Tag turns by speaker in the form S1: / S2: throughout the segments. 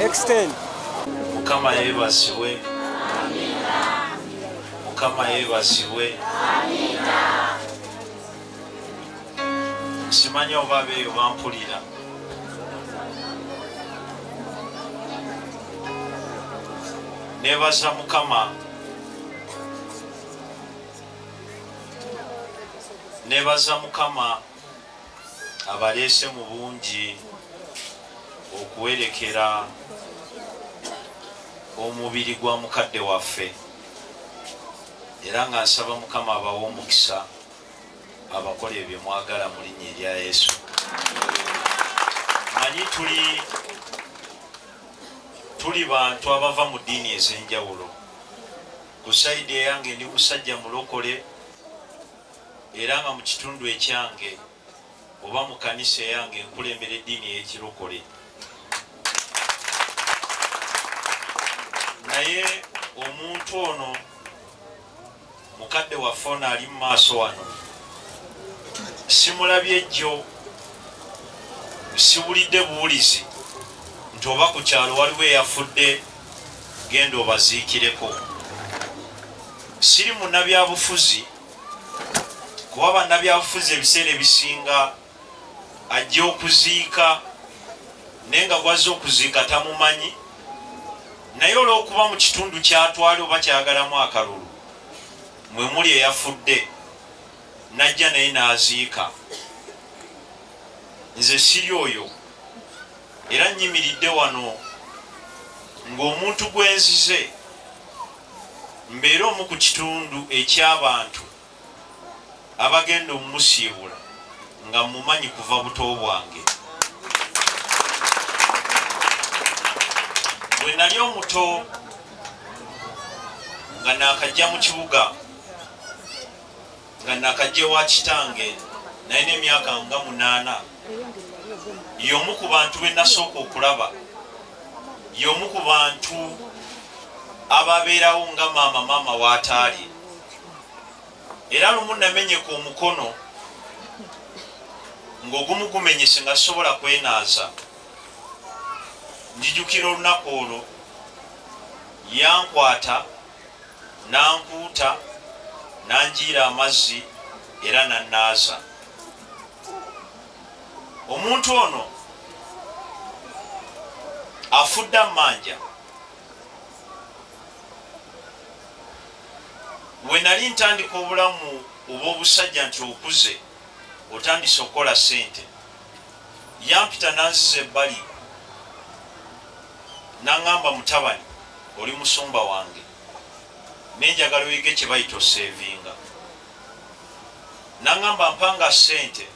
S1: Extend. Mukama
S2: yebazibwe. mukama yebazibwe simanyi oba beeyo bampulira nebaza mukama nebaza mukama abaleese mu bungi okuwerekera omubiri gwa mukadde waffe era nga nsaba mukama abawa omukisa abakola ebyo mwagala mu linnya erya yesu manyi tuli tuli bantu abava mu ddiini ez'enjawulo ku saidi eyange ndi musajja mulokole era nga mu kitundu ekyange oba mu kanisa eyange nkulembera eddiini ey'ekirokole naye omuntu ono mukadde waffe ono ali mu maaso wano simulabye jjo siwulidde buwulizi nti oba ku kyalo waliwo eyafudde genda obaziikireko siri munabyabufuzi kuba bannabyabufuzi ebiseera ebisinga ajja okuziika naye nga gwazza okuziika tamumanyi naye olwokuba mu kitundu kyatwali oba kyayagalamu akalulu mwe muli eyafudde najja naye n'aziika nze siri oyo era nyimiridde wano ng'omuntu gwenzize mbeere omu ku kitundu eky'abantu abagenda omumusiibula nga mmumanyi kuva buto bwange. Bwe nali omuto nga naakajja mu kibuga nga nakajja ewa kitange naye n'emyaka nga munaana y'omu ku bantu be nasooka okulaba y'omu ku bantu ababeerawo nga maama maama w'ataali era lumu namenyeka omukono ng'ogumu gumenyese nga sisobola kwenaaza njijukira olunaku olwo yankwata n'ankuuta n'anjiira amazzi era n'annaaza omuntu ono afudde amanja we nali ntandika obulamu obw'obusajja nti okuze otandise okukola ssente Yampita n'anziza ebbali n'aŋŋamba, Mutabani, oli musumba wange, naye njagala oyige kye bayita oseevinga. N'aŋŋamba mpanga ssente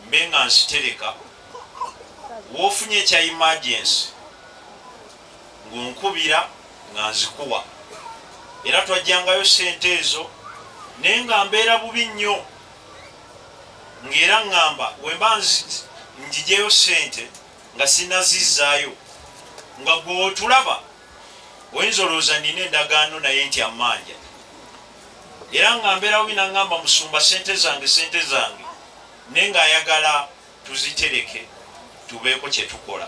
S2: mbe nga nzitereka w'ofunye ekya imagensi ng'onkubira nga nzikuwa era twajjangayo ssente ezo naye nga mbeera bubi nnyo. ng'era ngamba wemba njijeyo sente nga sinazizayo nga gwe wotulaba oyinza olowooza nina endagaano naye nti amanja era nga mberawo binangamba musumba sente zange sente zange naye nga ayagala tuzitereke tubeeko kye tukola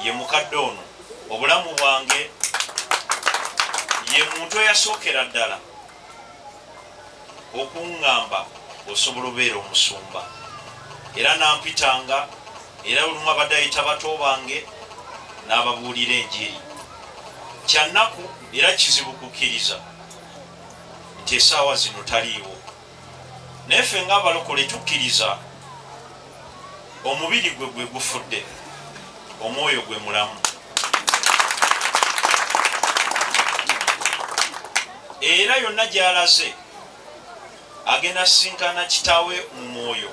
S2: ye mukadde ono obulamu bwange ye muntu eyasookera ddala okuŋŋamba osobola obeera omusumba era nampitanga era olumu abadde ayita bato bange n'ababuulira enjiri kyannaku era kizibu kukkiriza nti esaawa zino taliiwo naye ffe nga abalokole tukkiriza omubiri gwe gwe gufudde omwoyo gwe mulamu era yonna gyalaze agenda sinkana kitaawe mu mwoyo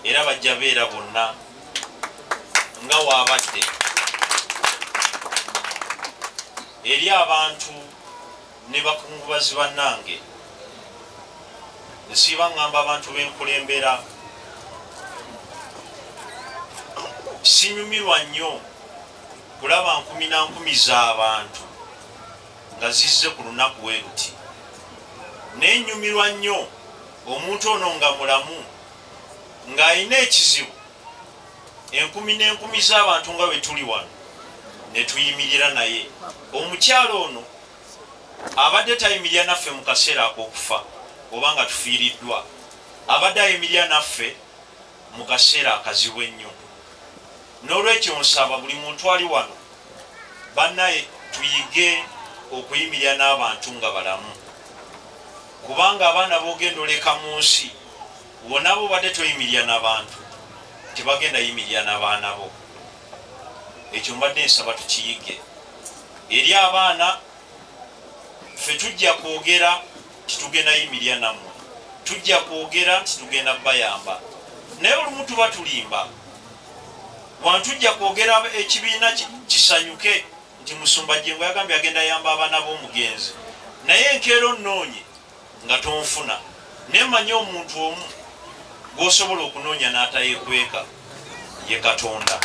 S2: era bajja beera bonna nga waabadde eri abantu ne bakungubazi bannange nsiiba ngamba abantu benkulembera sinyumirwa nnyo kulaba nkumi na nkumi z'abantu nga zizze ku lunaku we luti naye nyumirwa nnyo omuntu ono nga mulamu ng'alina ekizibu enkumi n'enkumi z'abantu nga bwe tuli wano ne tuyimirira naye omukyalo ono Abadde tayimirira naffe mu kaseera ak'okufa oba nga tufiiriddwa. Abadde ayimirira naffe mu kaseera akazibu ennyo. N'olwekyo nsaba buli muntu ali wano, bannaye, tuyige okuyimirira n'abantu nga balamu. Kubanga abaana b'ogenda oleka mu nsi, wonna bw'obadde toyimirira na bantu, tebagenda yimirira na baana bo. ekyo mbadde nsaba tukiyige eri abaana ffe tujja kwogera titugenda yimirya nammwe tujja kwogera nti tugenda bayamba naye olumu tuba tulimba wantujja kwogera ekibiina kisanyuke nti musumba jengo yagambye agenda yamba abaana b'omugenzi naye enkeera onoonye nga tonfuna naye manyi omuntu omu gwosobola okunoonya n'atayekweka ye katonda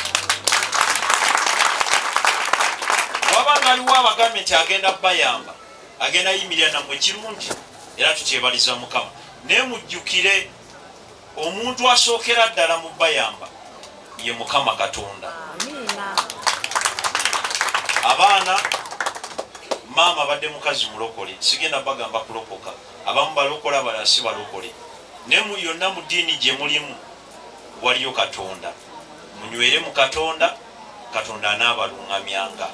S2: waba ngaliwo abagambe nti agenda bayamba agenda yimirira namwe kirungi era tukyebaliza mukama naye mujjukire Omuntu asookera ddala mu bayamba ye Mukama Katonda. Abaana maama abadde mukazi mulokole, sigenda bagamba kulokoka. Abamu balokole, abalala si balokole, naye mu yonna mu ddiini gye mulimu waliyo Katonda. Munywere mu Katonda, Katonda anaabaluŋŋamyanga.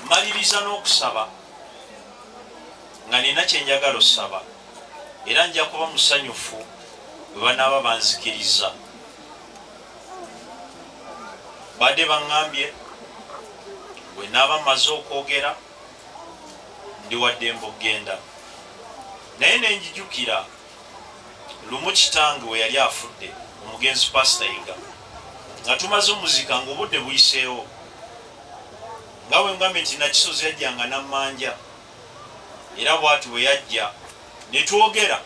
S2: Maliriza n'okusaba. nga nina kye njagala osaba, era nja kuba musanyufu bwe banaaba banzikiriza. Baadde baŋŋambye bwe naaba mmaze okwogera ndi wa ddembe okugenda, naye ne njijukira lumu kitange we yali afudde, omugenzi Paasita Yiga, nga tumaze omuzika ng'obudde buyiseewo, nga bwe mugambye nti Nakisozi yajjanga n'ammanja. era bwati bwe yajja ne twogera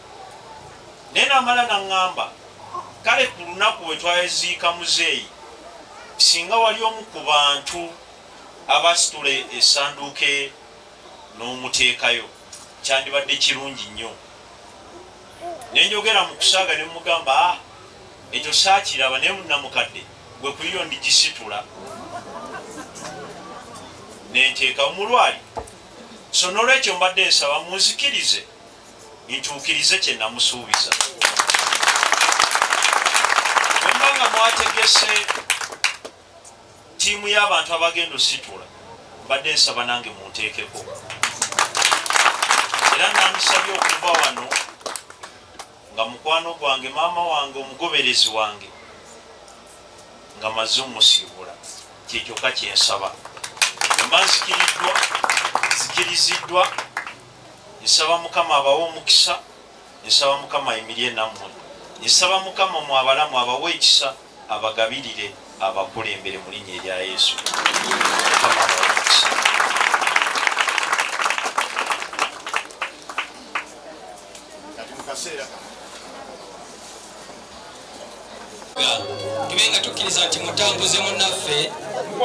S2: naye namala naŋŋamba kale ku lunaku bwe twaziika muzeeyi singa wali omu ku bantu abasitula esanduuke n'omuteekayo kyandibadde kirungi nnyo ne njogera mu kusaaga ne mugamba ah, ekyo saakiraba naye munamukadde gwe kuyiyo ndigisitula nenteeka omulwali so nolwekyo mbadde nsaba munzikirize ntuukirize kyenamusuubiza wemba nga mwategese tiimu y'abantu abagenda ositula mbadde nsaba nange munteekeko era nandisabye okuva wano nga mukwano gwange maama wange omugoberezi wange nga maze omusiibula kyekyoka kyensaba emba nzikiriddwa zikiriziddwa nsaba mukama abawe omukisa nsaba mukama ayimirie nammwe nsaba mukama mwabalamu abawe ekisa abagabirire abakulembere mu linnya erya Yesu.
S1: tube nga tukkiriza nti mutambuze munaffe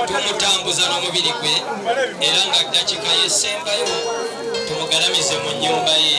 S1: tumutambuza n'omubiri gwe era nga ddakiika yesembayo tumugalamize mu nnyumba ye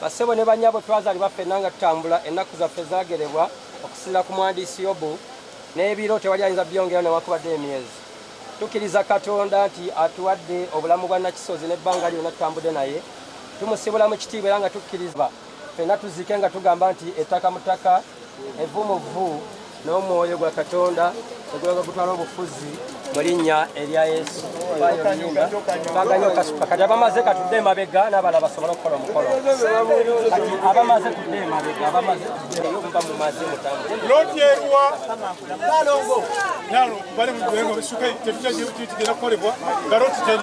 S3: Bassebo ne bannyabo twazaalibwa ffenna nga tutambula, ennaku zaffe zaagerebwa okusinzira ku mwandiisi Yobu, n'ebiro tewali ayinza byongera newakubadde emyezi. Tukkiriza Katonda nti atuwadde obulamu bwa Nakisozi n'ebbanga lyonna tutambudde naye. Tumusibula mu kitiibwa era nga tukkiriza ffenna tuziike nga tugamba nti ettaka mu ttaka. Evvu mu vvu n'omwoyo gwa Katonda ogulaga gutwala obufuzi mu linnya erya Yesu. Twaganya okasuka kati abamaze katudde emabega n'abala basobole okukola omukolo. Kati abamaze tudde emabega abamaze tudde muba mumaze mutambule. Loti eruwa?
S4: Nalongo. Nalo bali mu gwengo bisuka tetujja gye tugenda kukolebwa nga loti teri.